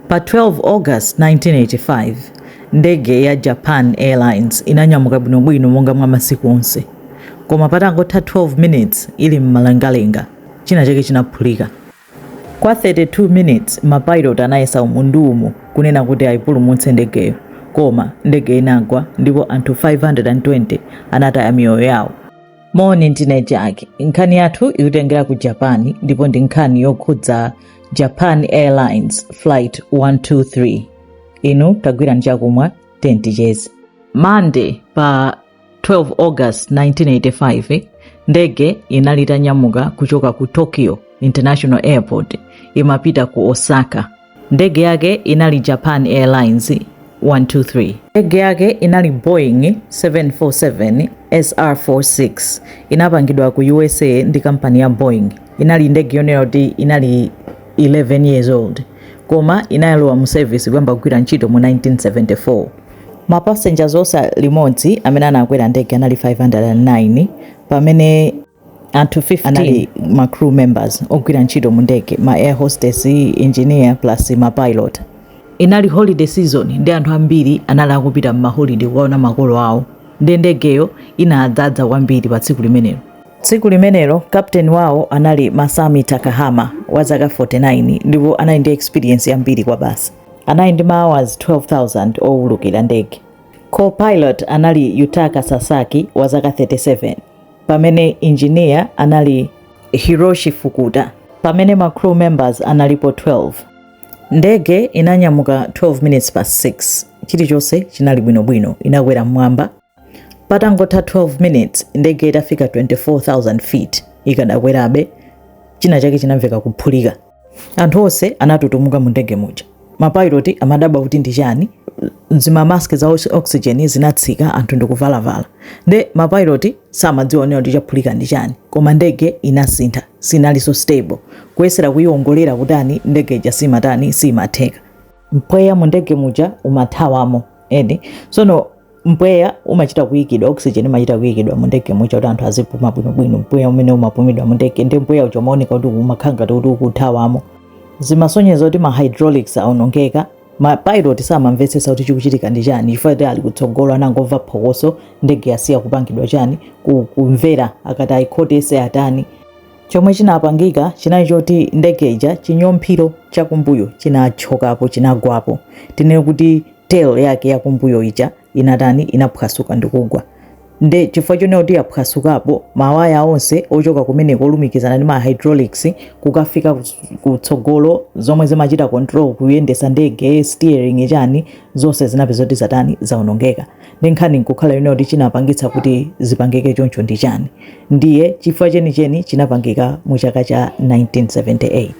Pa 12 August 1985, ndege ya Japan Airlines inanyamuka bwinobwino monga mwa masiku onse. Koma patangotha 12 minutes ili m'mlengalenga, chinachake chinaphulika. Kwa 32 minutes mapailoti anayesa umu ndi umu kunena kuti aipulumutse ndegeyo, koma ndegeyo inagwa ndipo anthu 520 anataya miyoyo yawo. moni ndine Jackie nkhani yathu ikutengera ku japan ndipo ndi nkhani yokhudza japan airlines flight 123 inu tagwirani chakumwa then ticheze Monday pa 12 august 1985 ndege inali itanyamuka kuchoka ku tokyo international airport imapita ku osaka Ndege yake inali Japan Airlines 123. Ndege yake inali Boeing 747 SR46. Inapangidwa ku USA ndi kampani ya Boeing. Inali ndege yonena kuti inali 11 years old koma inayalowa mu service kuyamba kugwira ntchito mu 1974. Ma passengers onse limodzi amene anakwera ndege anali 509 pamene anthu 15 anali ma crew members ogwira ntchito mu ndege ma air hostess engineer plus ma pilot inali holiday season nde anthu ambiri anali akupita m'maholide kukaona makolo awo nde ndegeyo inadzadza kwambiri pa tsiku limenelo tsiku limenelo kapteni wawo anali masami takahama wa zaka 49 ndipo anali ndi experience yambiri kwabasi anali ndi ma hours 12000 owulukira ndege co-pilot anali yutaka sasaki wa zaka 37 pamene engineer anali Hiroshi Fukuda, pamene ma crew members analipo 12. Ndege inanyamuka 12 minutes past 6. Chilichonse chinali bwinobwino, inakwera mmwamba. Patangotha 12 minutes, ndege itafika 24,000 feet ikadakwerabe, china chake chinamveka kuphulika. anthu onse anatutumuka mu ndege muja mapayiloti amadabwa kuti ndi chani zimamaski za oxygen zinatsika anthu ndikuvalavala nde mapayiloti samadziwa onena kuti chaphulika ndi chani koma ndege inasintha sinalinso stable kuyesera kuyiwongolera kutani ndege ija simatani simatheka mpweya mu ndege muja umathawamo and sono mpweya umachita kuyikidwa oxygen imachita kuyikidwa mu ndege muja kuti anthu azipuma bwinobwino mpweya umene umapumidwa mu ndege ndi mpweya uja umaoneka kuti umakhala ngati kuti ukuthawamo zimasonyeza kuti ma hydraulics aonongeka ma pilot samamvetsetsa kuti chikuchitika ndi chani chifukwa kuti ali kutsogolo anangomva phokoso ndege yasiya kupangidwa chani ku- kumvera akati ayikhotese atani chomwe chinapangika chinali choti ndege ija chinyomphiro chakumbuyo chinachokapo chinagwapo tinene kuti tail yake yakumbuyo ija inatani inaphwasuka ndikugwa nde chifukwa chonena kuti yaphwasukapo mawaya onse ochoka kumeneko olumikizana ndi ma hydraulics kukafika kus- kutsogolo zomwe zimachita control kuyendesa ndege steering chani zonse zinapezeka kuti zatani zaonongeka ndi nkhani nkukhala yonena kuti chinapangitsa kuti zipangike choncho ndi chani ndiye chifukwa chenicheni chinapangika mu chaka cha 1978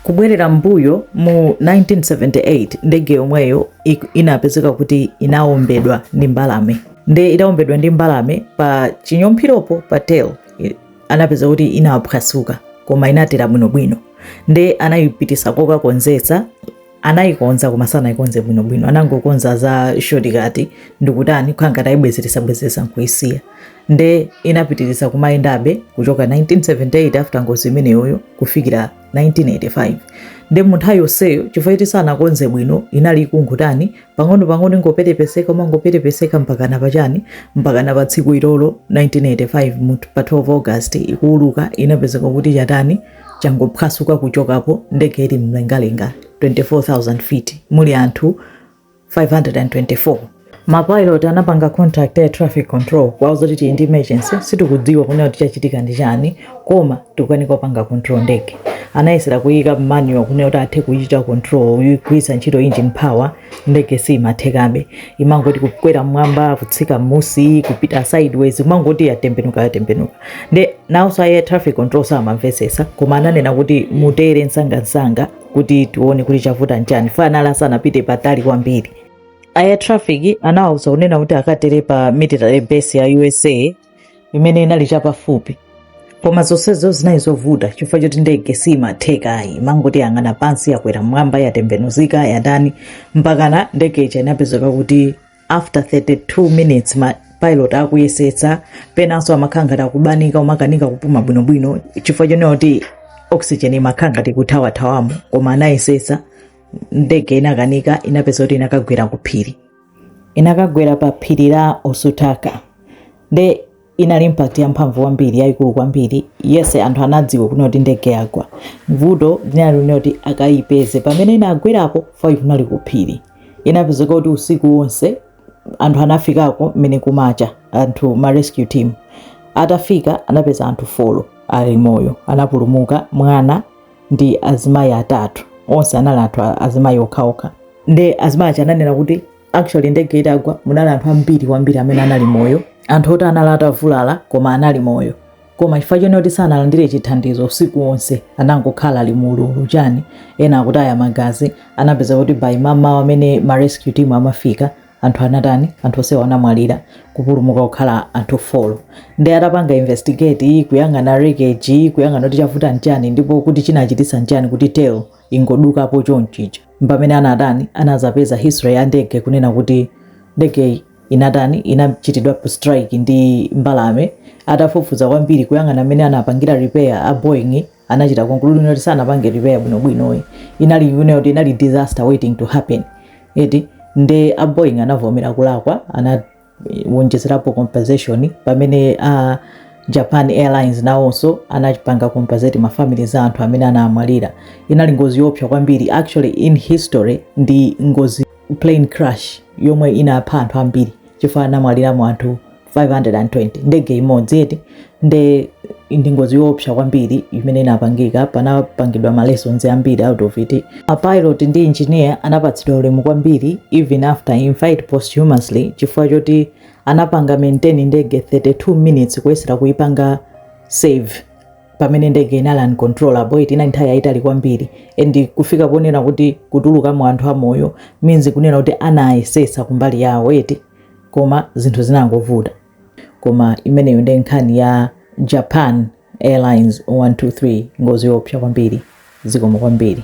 Kubwerera m'mbuyo mu 1978 ndege yomweyo inapezeka kuti inawombedwa ndi mbalame nde itawombedwa ndi mbalame pa chinyomphiropo pa tail anapeza kuti inaphwasuka koma inatera bwinobwino nde anayipititsa kokakonzetsa anayikonza koma sanayikonze bwinobwino anangokonza za shortcut ndikutani kukhala ngati ayibwezeretsabwezeretsa nkuyisiya nde inapitiriza kumayendabe kuchoka 1978 after ngozi imeneyoyo kufikira 1985 nde munthawi yonseyo chifukwa choti sanakonze bwino inali ikungotani pang'ono pang'ono ingopetepeseka kumangopetepeseka mpakana pachani mpakana pa tsiku ilolo 1985 mu- pa 12 august ikuuluka inapezeka kuti chatani changophwasuka kuchokapo ndege ili mlengalenga 24000 feet muli anthu 524 mapilot anapanga contact air traffic control kuwauza kuti ndi emergency sitikudziwa kunena kuti chachitika ndi chani koma tikukanika kupanga control ndege anayesera kuyiika manual kunena kuti athe kuyichita control kugwiritsa ntchito engine power ndege siimathekabe imangoti kukwera mmwamba kutsika mmusi kupita sideways imangoti yatembenuka yatembenuka nde nawonso air traffic control samamvetsetsa koma ananena kuti mutere msangamsanga kuti tione kuti chavuta nchani fanala sanapite patali kwambiri air traffic anawauza kunena kuti akatere pa military base ya usa imene inali chapafupi koma zonsezo zinali zovuta chifukwa choti ndege simatheka ayi imangoti yang'ana pansi yakwera mmwamba yatembenuzika yatani mpakana ndege ija inapezeka kuti after 32 minutes ma pilot akuyesetsa penanso amakhala ngati akubanika umakanika kupuma bwinobwino chifukwa chonena kuti oxygen imakhala ngati ikuthawathawamo koma anayesetsa ndege inakanika inapezeka kuti inakagwera kuphiri inakagwera pa phiri la Osutaka nde inali impact ya mphamvu kwambiri yayikulu kwambiri yes anthu anadziwa kunena kuti ndege yagwa vuto linali lonena kuti akayipeze pamene inagwerapo fai kunali kuphiri inapezeka kuti usiku wonse anthu anafikako mmene kumacha anthu ma rescue team atafika anapeza anthu 4 ali moyo anapulumuka mwana ndi azimayi atatu onse anali anthu a- azimayi okhaokha nde azimayi aja ananena kuti actually ndege itagwa munali anthu ambiri kwambiri amene anali moyo anthu oti anali atavulala koma anali moyo koma chifukwa chonena kuti sanalandire chithandizo usiku wonse anangokhala ali mu ululu chani ena akutaya magazi anapeza kuti by mamawa amene ma rescue team amafika anthu anatani anthu onsewo anamwalira kupulumuka kukhala anthu folo nde atapanga investigate kuyang'ana wreckage kuyang'ana kuti chavuta nchani ndipo kuti chinachitisa nchani kuti tail ingodukapo chonchicho mpamene anatani anazapeza history ya ndege kunena kuti ndege inatani inachitidwa strike ndi mbalame atafufuza kwambiri kuyang'ana mmene anapangira repair a boeing anachita conclude kuti sanapange repair bwino bwino eh. inali you know inali disaster waiting to happen eti nde a Boeing anavomera kulakwa anawonjezerapo compensation pamene a Japan Airlines nawonso anapanga compensate ma families a anthu amene anamwalira inali ngozi yoopsa kwambiri actually in history ndi ngozi plane crash yomwe inapha anthu ambiri chifukwa anamwaliramo anthu 520 ndege imodzi eti nde ndi ngozi yoopsa kwambiri imene inapangika panapangidwa ma lessons ambiri out of it a pilot ndi engineer anapatsidwa ulemu kwambiri even after in fact posthumously chifukwa choti anapanga maintain ndege 32 minutes kuyesera kuipanga save pamene ndege inali uncontrollable eti inali nthawi yayitali kwambiri and kufika ponena kuti kutulukamo anthu amoyo means kunena kuti anayesesa kumbali yawo eti koma zinthu zinangovuta koma imeneyo ndi nkhani ya japan airlines 123 ngozi yoopsa kwambiri zikomo kwambiri